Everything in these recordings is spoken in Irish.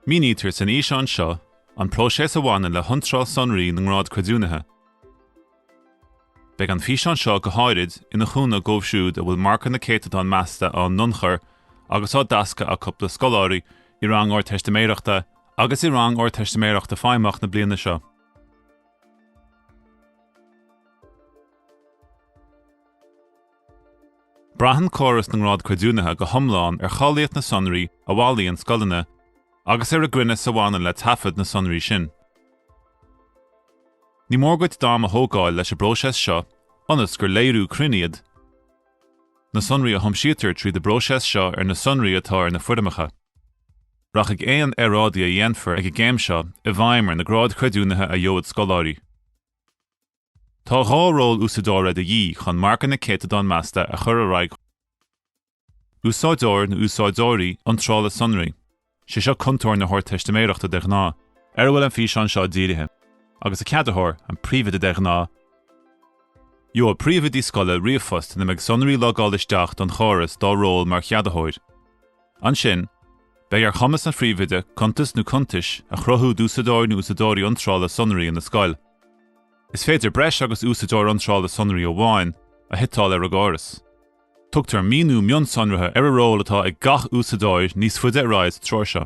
Mínítear san fhíseán seo an próiseas a bhaineann le hiontráil sonraí na ngrád creidiúnaithe. Beidh an físeán seo go háirid ina chúnamh dóibh siúd a bhfuil marcanna céatadán measta á n-ionchur agus á dtaisceadh acu do scoláirí i rang Ardteistiméireachta agus i rang Ardteistiméireachta Feidhmeach na bliana seo. Braitheann córas na ngrád creidiúnaithe go hiomlán ar cháilíocht na sonraí a bhailíonn scoileanna agus ar an gcruinneas a bhaineann le taifead na sonraí sin. Ní mór duit d'am a thógáil leis an bpróiseas seo ionas gur léiriú cruinn iad na sonraí a thiomsítear tríd an bpróiseas seo ar na sonraí atá ar na foirmeacha. Rachaidh aon earráidí a dhéanfar ag an gcéim seo i bhfeidhm ar na gráid chreidiúnaithe a gheobhaidh scoláirí. Tá dhá ról úsáideora de dhíth chun marcanna céatadán measta a chur ar aghaidh úsáideoir nó úsáideoirí iontrála sonraí, sé seo cuntóir na hArdteistiméireachta de ghnáth, ar a bhfuil an físeán seo dírithe, agus an ceadaitheoir, an príomhoide de ghnáth. Gheobhaidh príomhoidí scoile ríomhphost ina mbeidh sonraí logáil isteach don chóras dá ról mar cheadaitheoir. Ansin, beidh ar chumas an Phríomhoide cuntas nó cuntais a chruthú d'úsáideoir nó úsáideoirí iontrála sonraí ina scoil. Is féidir breis agus úsáideoir iontrála sonraí amháin a shuiteáil ar an gcóras. Tugtar míniú mionsonraithe ar an ról atá ag gach úsáideoir níos faide ar aghaidh sa treoir seo.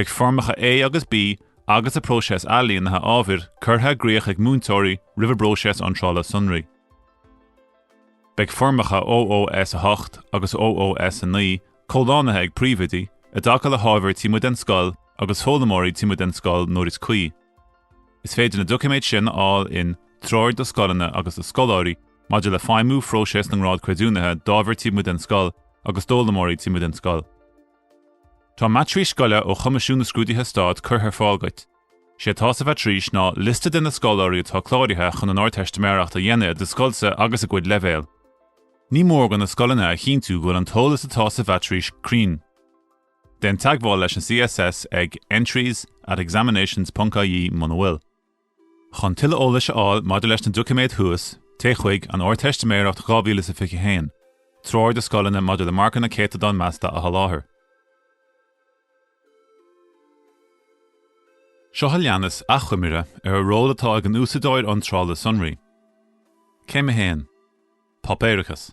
Beidh Foirmeacha A agus B agus an próiseas ailínithe ábhair curtha i gcríoch ag múinteoirí roimh an bpróiseas iontrála sonraí. Beidh Foirmeacha OOS8 agus OOS9 comhlánaithe ag Príomhoidí i dtaca le hábhair taobh amuigh den scoil agus foghlaimeoirí taobh amuigh den scoil nuair is cuí. Is féidir na doiciméid sin a fháil in, Treoir do Scoileanna agus do Scoláirí maidir le feidhmiú phróiseas na nGrád Creidiúnaithe d'ábhair taobh amuigh den scoil agus d'fhoghlaimeoirí taobh amuigh den scoil. Tá Maitrís Scoile ó Choimisiún na Scrúduithe Stáit curtha ar fáil duit. Sé atá sa mhaitrís ná liosta de na scoláirí atá cláraithe chun an Ardteistiméireacht a dhéanamh i do scoilse agus a gcuid leibhéal. Ní mór do na scoileanna a chinntiú go bhfuil an t-eolas atá sa mhaitrís cruinn. Déan teagmháil leis an CSS ag entries at examinations ponc-ie muna bhfuil. Chun tuilleadh eolais a fháil maidir leis na doiciméid thuas, téigh chuig An Ardteistiméireacht dhá mhíle is fiche a haon, Treoir do Scoileanna maidir le Marcanna Céatadán Measta a Sholáthar. Seo a leanas achoimre ar an ról atá ag an Úsáideoir Iontrála Sonraí. Céim a haon. Páipéarachas.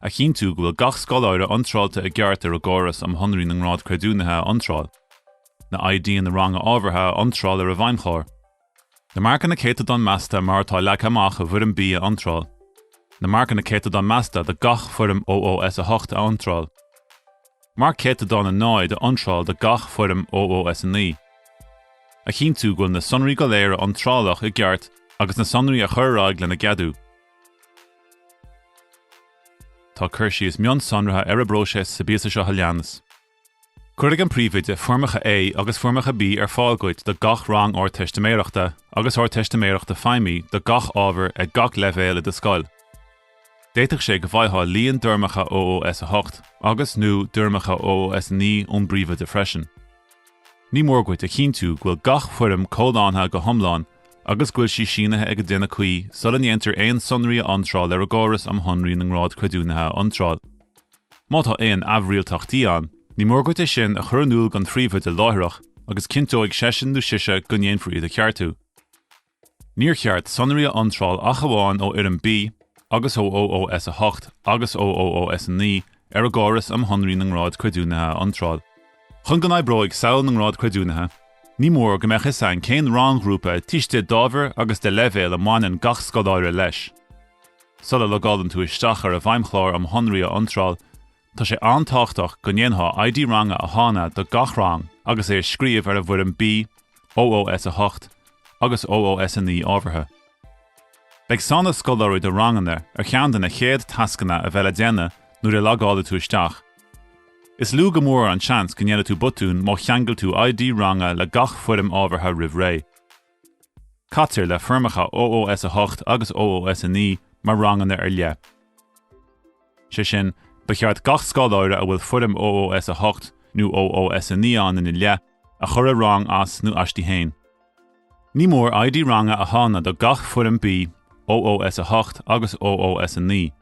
A chinntiú go bhfuil gach scoláire iontráilte i gceart ar an gcóras um shonraí na ngrád creidiúnaithe a iontráil, na IDeanna ranga ábhartha a iontráil ar an bhfeidhmchlár, na marcanna céatadán measta mar atá leagtha amach i bhFoirm B a iontráil, na marcanna céatadán measta do gach foirm OOS8 a iontráil, marc céatadán 0 a iontráil do gach foirm OOS9. A chinntiú go bhfuil na sonraí go léir a iontráladh i gceart agus na sonraí a chur ar aghaidh lena gceadú. Tá cur síos mionsonraithe ar an bpróiseas sa bpíosa seo a leanas. Cuirfidh an Príomhoide Foirmeacha A agus Foirmeacha B ar fáil duit do gach rang Ardteistiméireachta agus Ardteistiméireachta Feidhmí do gach ábhar ag gach leibhéal i do scoil. D'fhéadfadh sé go bhfaightheá líon d'fhoirmeacha OOS 8 agus, nó d'fhoirmeacha OOS 9 ón bPríomhoide freisin. Ní mór dhuit a chinntiú go bhfuil gach foirm comhlántha go hiomlán agus go bhfuil sí sínithe ag an duine cuí sula ndéantar aon sonraí a iontráil ar an gCóras um Shonraí na nGrád Creidiúnaithe a iontráil. Má tá aon aimhrialtachtaí ann, ní mór dhuit é sin a chur in iúl don Phríomhoide láithreach agus cinnteoidh seisean nó sise go ndéanfar iad a cheartú. Níor cheart sonraí a iontráil ach amháin ó Fhoirm B agus ó OOS8 agus ó OOS9 ar an gCóras um Shonraí na nGrád Creidiúnaithe a iontráil. Chun go n-oibreoidh samhail na ngrád creidiúnaithe, ní mór go mbeadh fhios againn cén rang-ghrúpa teagaisc d'ábhar agus de leibhéal a mbaineann gach scoláire leis. Sula logálann tú isteach ar an bhFeidhmchlár um Shonraí a Iontráil, Tá sé an-tábhachtach go ndéanfá ID ranga a shannadh do gach rang agus é a scríobh ar an bhfoirm B, OOS8 agus OOS9 ábhartha. Beidh sannadh scoláirí do ranganna ar cheann de na chéad tascanna a bheidh le déanamh nuair a logáilfidh tú isteach. Is lú go mór an seans go ndéanfaidh tú botún má cheangail tú ID ranga le gach foirm ábhartha roimh ré. Caitear le foirmeacha OOS 8 agus OOS 9 mar ranganna ar leith. Sé sin, ba cheart gach scoláire a bhfuil foirm OOS 8 nó OOS 9 ann ina leith, a chur i rang as nó aisti fhéin. Ní mór ID ranga a shannadh do gach foirm B, OOS 8 agus OOS 9.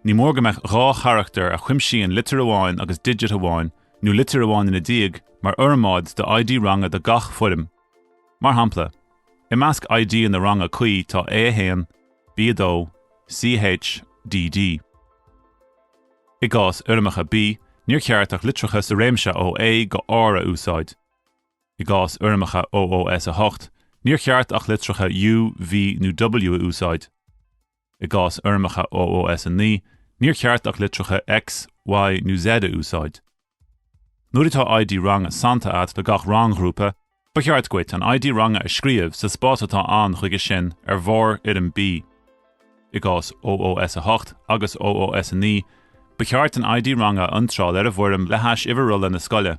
Ní mór go mbeadh dhá charachtar a chuimsíonn litir amháin agus digit amháin, nó litir amháin ina diaidh, mar fhormáid do ID ranga do gach foirm. Mar shampla, i measc IDanna ranga cuí tá A1, B2, CH, DD. I gcás fhoirmeacha B, níor cheart ach litreacha sa réimse ó A go R a úsáid. I gcás fhoirmeacha OOS 8, níor cheart ach litreacha U, V nó W a úsáid. I gcás fhoirmeacha OOS9, níor cheart ach litreacha X, Y nó Z a úsáid. Nuair atá ID ranga sannta agat do gach rang-ghrúpa, ba cheart dhuit an ID ranga a scríobh sa spás atá ann chuige sin ar bharr Fhoirm B. I gcás OOS8 agus OOS9, ba cheart an ID ranga a iontráil ar an bhfoirm le hais uimhir rolla na scoile.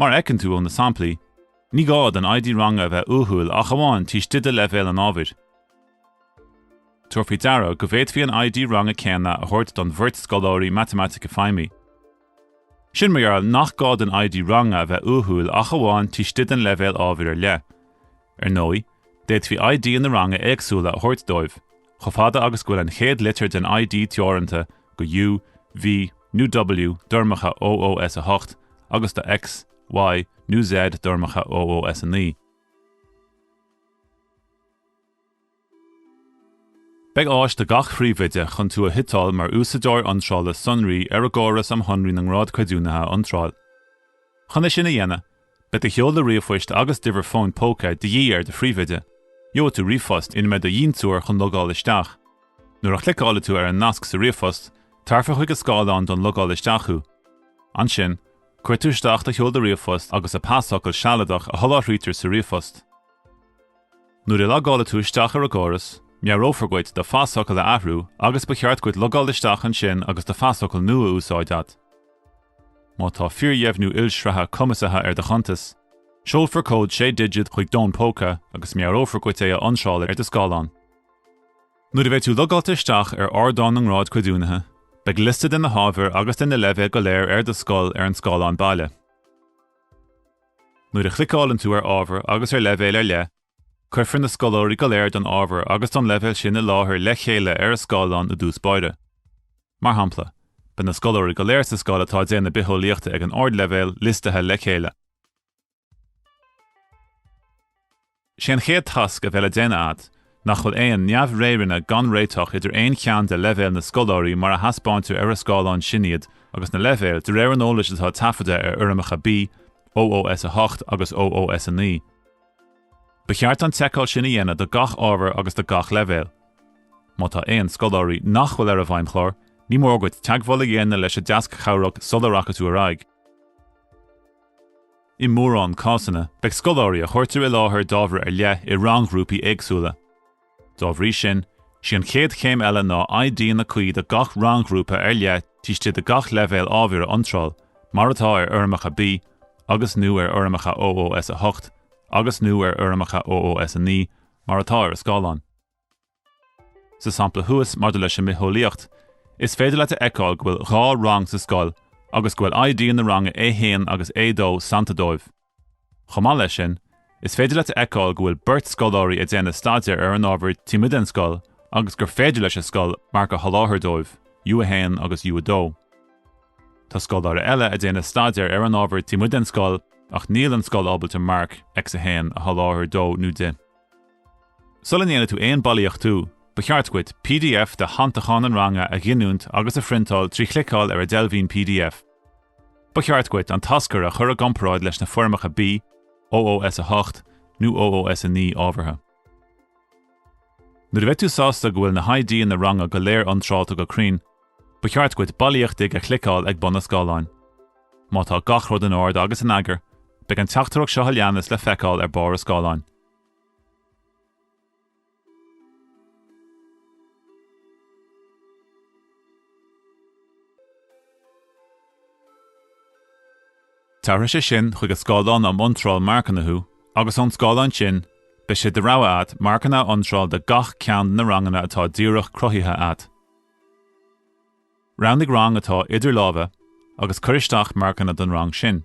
Mar a fheiceann tú ó na samplaí, ní gá don ID ranga a bheith uathúil ach amháin taobh istigh de leibhéal an ábhair. Tabhair faoi deara go bhféadfaí an ID ranga céanna a thabhairt don bheirt scoláirí Matamaitice Feidhmí. Sin mar gheall nach gá don ID ranga a bheith uathúil ach amháin taobh istigh den leibhéal ábhair ar leith. Ar ndóigh, d'fhéadfaí ID-anna ranga éagsúla a thabhairt dóibh, chomh fada agus go bhfuil an chéad litir den ID teoranta go U, V, nó W d'fhoirmeacha OOS8 agus do X, Y, nó Z d'fhoirmeacha OOS9. Beidh áis ag gach Phríomhoide chun tú a shuiteáil mar Úsáideoir Iontrála Sonraí ar an gCóras um Shonraí na nGrád Creidiúnaithe a iontráil. Chun é sin a dhéanamh, beidh do sheoladh ríomhphoist agus d'uimhir fóin póca de dhíth ar do Phríomhoide. Gheobhaidh tú ríomhphost ina mbeidh do dhintiúir chun logáil isteach. Nuair a chliceálfaidh tú ar an nasc sa ríomhphost, tabharfar chuig an scáileán don logáil isteach thú. Ansin, cuirfidh tú isteach do sheoladh ríomhphoist agus an pasfhocal sealadach a sholáthraítear sa ríomhphost. Nuair a logálfaidh tú isteach ar an gcóras, meabhrófar dhuit do phasfhocal a athrú agus ba cheart dhuit logáil isteach ansin agus do phasfhocal nua á úsáid agat. Má tá fíordheimhniú ilshraitheach cumasaithe ar do chuntas, seolfar cód 6 digit chuig d'fhón póca agus meabhrófar dhuit é a iontráil ar do scáileán. Nuair a bheidh tú logáilte isteach ar ardán na ngrád creidiúnaithe, beidh liosta de na hábhair agus de na leibhéil go léir i do scoil ar an scáileán baile. Nuair a chliceálann tú ar ábhar agus ar leibhéal ar leith, cuirfear na scoláirí go léir don ábhar agus don leibhéal sin i láthair le chéile ar an scáileán i dtús báire. Mar shampla, beidh na scoláirí go léir sa scoil atá ag déanamh Bitheolaíochta ag an Ardleibhéal liostaithe le chéile. Sé an chéad tasc a bheidh le déanamh agat nach bhfuil aon neamh-réireanna gan réiteach idir aon cheann de leibhéil na scoláirí mar a thaispeáintear ar an scáileán sin iad agus na leibhéil de réir an eolais atá taifeadta ar fhoirmeacha B, OOS 8 agus OOS 9. Ba cheart an tseiceáil sin a dhéanamh do gach ábhar agus do gach leibhéal. Má tá aon scoláirí nach bhfuil ar an bhfeidhmchlár, ní mór dhuit teagmháil a dhéanamh leis an deasc chabhrach sula rachaidh tú ar aghaidh. I mórán cásanna, beidh scoláirí a chuirtear i láthair d'ábhar ar leith i rang-ghrúpaí éagsúla. Dá bhrí sin, sí an chéad chéim eile ná IDanna cuí do gach rang-ghrúpa ar leith taobh istigh de gach leibhéal ábhair a iontráil, mar atá ar Fhoirmeacha B agus, nó ar Fhoirmeacha OOS 8 agus, nó ar Fhoirmeacha OOS 9, mar atá ar an scáileán. Sa sampla thuas maidir leis an mbitheolaíocht, is féidir leat a fheiceáil go bhfuil dhá rang sa scoil agus go bhfuil ID na ranga A1 agus A2 sannta dóibh. Chomh maith leis sin, is féidir leat a fheiceáil go bhfuil beirt scoláirí ag déanamh staidéir ar an ábhar taobh amuigh den scoil agus gur féidir leis an scoil marc a sholáthar dóibh, U1 agus U2. Tá scoláire eile ag déanamh staidéir ar an ábhar taobh amuigh den scoil ach níl an scoil ábalta marc, X1, a sholáthar dó nó di. Sula ndéanfaidh tú aon bailíochtú, ba cheart dhuit pdf de shannacháin an ranga a ghiniúint agus a phriontáil trí chliceáil ar an deilbhín pdf. Ba cheart dhuit an t-aschur a chur i gcomparáid leis na foirmeacha B, OOS8 nó OOS9 ábhartha. Nuair a bheidh tú sásta go bhfuil na hIDanna ranga go léir iontráilte go cruinn, Ba cheart dhuit Bailíochtaigh a chliceáil ag bun an scáileáin. Má tá gach rud in ord agus in eagar, beidh an teachtaireacht seo a leanas le feiceáil ar barr an scáileáin. Tabharfaidh sé sin chuig an scáileán um iontráil marcanna thú agus ón scáileán sin, beidh sé de rogha agat marcanna a iontráil do gach ceann de na ranganna atá díreach cruthaithe agat. Roghnaigh rang atá idir lámha agus cuir isteach marcanna don rang sin.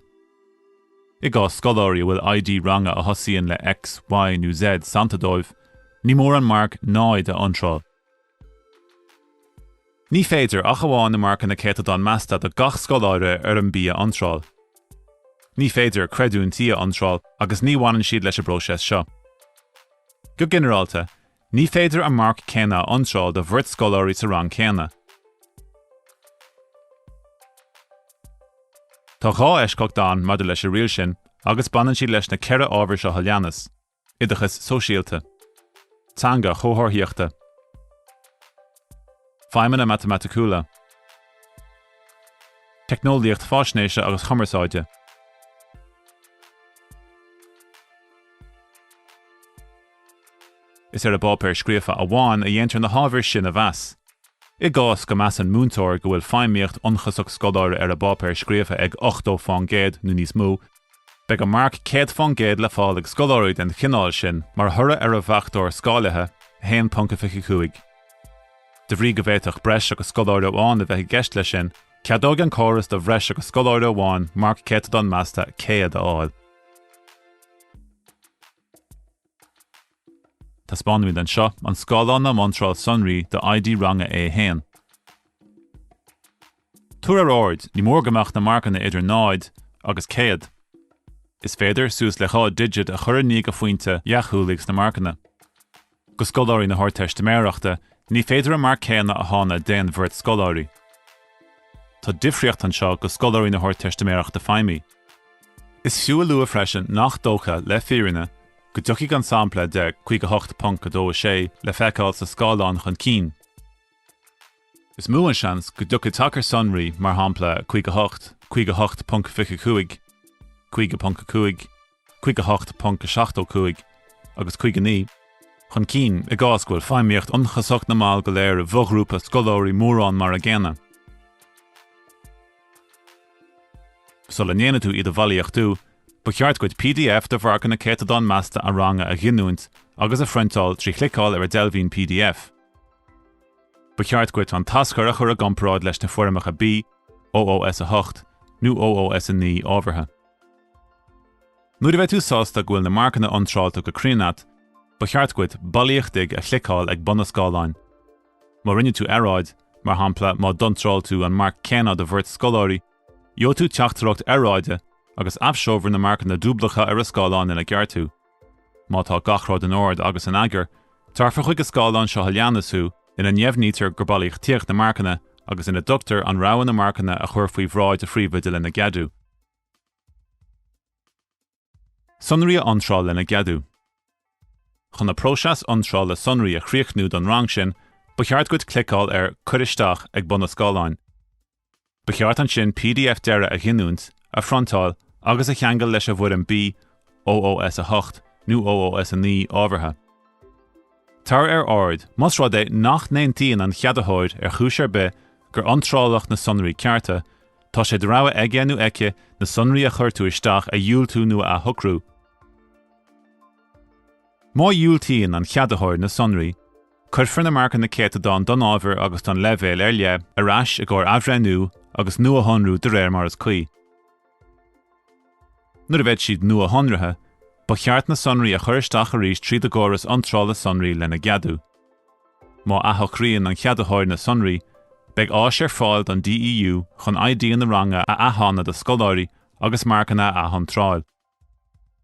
I gcás scoláirí a bhfuil ID ranga a thosaíonn le X, Y nó Z sannta dóibh, ní mór an marc 0 a iontráil. Ní féidir ach amháin na marcanna céatadán measta do gach scoláire ar an B a iontráil. Ní féidir creidiúintí a iontráil agus ní bhaineann siad leis an bpróiseas seo. Go ginearálta, Ní féidir an marc céanna a iontráil do bheirt scoláirí sa rang céanna. Tá dhá eisceacht ann maidir leis an riail sin agus baineann siad leis na ceithre ábhar seo a leanas, Oideachas Sóisialta. Teanga Chomharthaíochta. Feidhmeanna Matamaiticiúla. Teicneolaíocht Faisnéise agus Chumarsáide. Is ar an bpáipéar scríofa amháin a dhéantar na hábhair sin a mheas. I gcás go measann múinteoir go bhfuil feidhmíocht ionchasach scoláire ar an bpáipéar scríofa ag 80 fán gcéad nó níos mó, beidh an marc 100 fán gcéad le fáil ag scoláirí den chineál sin mar thoradh ar an bhfachtóir scáilithe, 1.25. De bhrí go bhféadfadh breis agus scoláire amháin a bheith i gceist leis sin, ceadóidh an córas do bhreis agus scoláire amháin marc céatadán measta 100 a fháil. Taispeánaimid anseo an scáileán um iontráil sonraí do ID ranga A1. Tabhair ar aird, ní mór go mbeadh na marcanna idir 0 agus 100. Is féidir suas le 2 digit a chur i ndiaidh an phointe dheachúlaigh sna marcanna. Do scoláirí na hArdteistiméireachta ní féidir an marc céanna a shannadh d'aon bheirt scoláirí. Tá difríocht anseo do scoláirí na hArdteistiméireachta Feidhmí. Is fiú a lua freisin nach dócha, le fírinne, go dtiocfaidh an sampla de 58.26 le feiceáil sa scáileán chun cinn. Is mó an seans go dtiocfaidh tacar sonraí, mar shampla, 58, 58.25, 58.5, 58.75 agus 59, chun cinn i gcás go bhfuil feidhmíocht ionchasach na mball go léir i bhfoghrúpa scoláirí mórán mar an gcéanna. Sula ndéanfaidh tú iad a bhailíochtú, ba cheart duit pdf de mharcanna céatadán measta an ranga a ghiniúint agus a phriontáil trí chliceáil ar an deilbhín pdf. Ba cheart dhuit an t-aschur a chur i gcomparáid leis na foirmeacha B, OOS 8, nó OOS 9, ábhartha. Nuair a bheidh tú sásta go bhfuil na marcanna iontráilte go cruinn a't, ba cheart dhuit 'Bailíochtaigh' a chliceáil ag bun an scáileáin. Má rinne tú earráid, mar shampla má d'iontráil tú an marc céanna do bheirt scoláirí, gheobhaidh tú teachtaireacht earráide agus aibhseofar na marcanna dúblacha ar an scáileán lena gceartú. Má tá gach rud in ord agus in eagar, tabharfar chuig an scáileán seo a leanas thú ina ndeimhnítear gur bailíochtaíodh na marcanna agus ina dtugtar an rogha na marcanna a chur faoi bhráid an Phríomhoide lena gceadú. Sonraí a iontráil lena gceadú. Chun an próiseas iontrála sonraí a chríochnú don rang sin, ba cheart duit cliceáil ar Cuir Isteach ag bun an scáileáin. Ba cheart ansin pdf deiridh a ghiniúint, a phriontáil agus a cheangal leis an bhfoirm BOOS8 nó OOS9 ábhartha. Tabhair ar aird, más rud é nach n-aontaíonn an cheadaitheoir ar chúis ar bith gur iontráladh na sonraí cearta, tá sé de rogha aige nó aici na sonraí a chuir tú isteach a dhiúltú nó a athshocrú. Má dhiúltaíonn an cheadaitheoir na sonraí, Cuirfear na marcanna céatadán don ábhar agus don leibhéal ar leith ar ais i gcomhair athbhreithniú agus nuashonrú de réir mar is cuí. Nuair a bheidh siad nuashonraithe, ba cheart na sonraí a chur isteach arís tríd an gcóras iontrála sonraí lena gceadú. Má athshocraíonn an ceadaitheoir na sonraí, beidh áis ar fáil don DEU chun ID-anna ranga a athshannadh do scoláirí agus marcanna a athiontráil.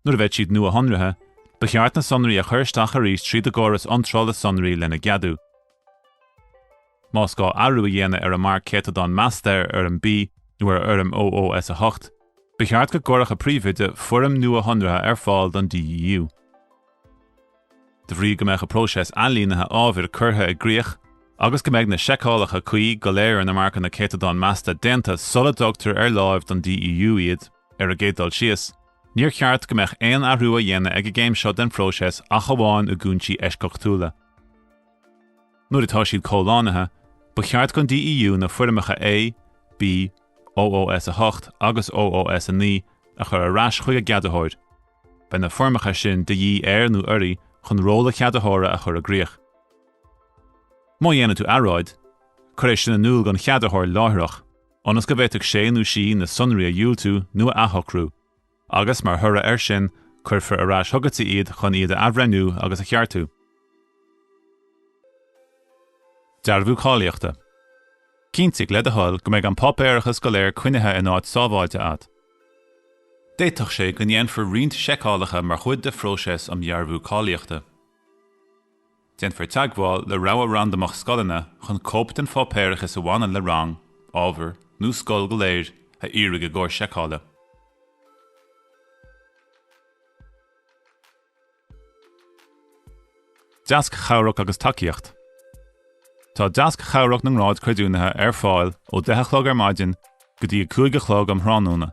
Nuair a bheidh siad nuashonraithe, ba cheart na sonraí a chur isteach arís tríd an gcóras iontrála sonraí lena gceadú. Más gá athrú a dhéanamh ar an marc céatadán measta ar Fhoirm B nó ar Fhoirm OOS8, ba cheart go gcuirfeadh an Príomhoide foirm nuashonraithe ar fáil don DEU. De bhrí go mbeidh an próiseas ailínithe ábhair curtha i gcrích agus go mbeidh na seiceálacha cuí go léir ar na marcanna céatadán measta déanta sula dtugtar ar láimh don DEU iad, Ar an gcéad dul síos, níor cheart go mbeadh aon athrú á dhéanamh ag an gcéim seo den phróiseas ach amháin i gcúinsí eisceachtúla. Nuair atá siad comhlánaithe, ba cheart don DEU na foirmeacha A, B, OOS8 agus OOS9 a chur ar ais chuig an gceadaitheoir. Beidh na foirmeacha sin de dhíth air nó uirthi chun ról an cheadaitheora a chur i gcrích. Má dhéanann tú earráid, cuir é sin in iúl don cheadaitheoir láithreach. ionas go bhféadfadh sé nó sí na sonraí a dhiúltiú nó a athshocrú, agus, mar thoradh air sin, cuirfear ar ais chugat iad chun iad a athbhreithniú agus a cheartú. Dearbhú Cáilíochta. Cinntigh, le do thoil, go mbeidh an páipéarachas go léir coinnithe in áit sábháilte agat. D'fhéadfadh sé go ndéanfar roinnt seiceálacha mar chuid de phróiseas um Dhearbhú Cáilíochta. Déanfar teagmháil le rogha randamach scoileanna chun cóip den pháipéarachas a bhaineann le rang, ábhar, nó scoil go léir a iarraidh i gcomhair seiceála. Deasc chabhrach agus tacaíocht Tá deasc chabhrach na ngrád creidiúnaithe ar fáil ó 10 a chlog ar maidin go dtí 5 a chlog um thráthnóna.